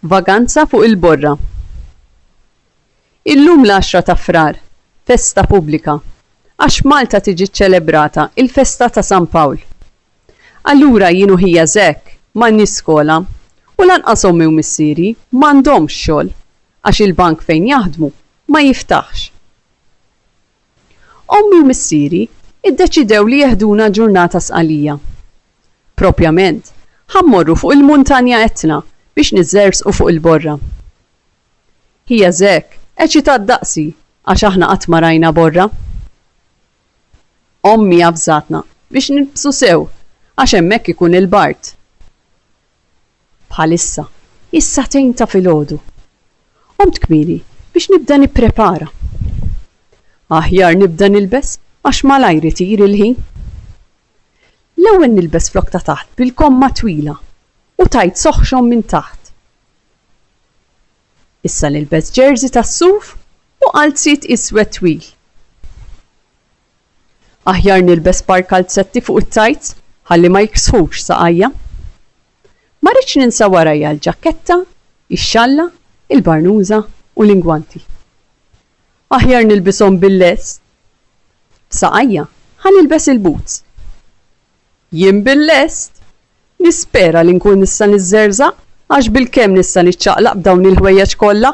Vaganza fuq il-borra. Illum l-għaxra ta' Frar, festa pubblika, għax f'Malta tiġi ċċelebrata il-festa ta' San Pawl. Allura jien u ħija Zack m'għandniex skola u lanqas ommi u missieri m'għandhomx xogħol għax il-bank fejn jaħdmu ma jiftaħx. Ommi u missieri ddeċidew li jeħduna ġurnata sqalija. Propjament, ħa mmorru fuq il-Muntanja Etna biex niżżerżqu fuq il-borra. Hija zhekk eċitat daqsi għax aħna qatt ma rajna borra. Ommi avżatna biex nilbsu sew għax hemmhekk ikun il-bard. Bħalissa, is-sagħtejn ta' filgħodu. Qomt kmieni biex nibda nipprepara. Aħjar nibda nilbes għax malajr itir il-ħin. L-ewwel nilbes flokk ta' taħt bil-komma twila u tight soħxon minn taħt. Issa nilbes jersey tas-suf u qalziet iswed twil. Aħjar nilbes par kalzetti fuq it-tajts ħalli ma jiksħux saqajja. Ma rridx ninsa warajja l-ġakketta, ix-xalla, il-barnuża u l-ingwanti. Aħjar nilbishom bil-lest. F'saqajja ħa nilbes il-boots. Jien bil-lest! Nispera li nkun nista' niżżerżaq għax bilkemm nista' niċċaqlaq b'dawn il-ħwejjeġ kollha!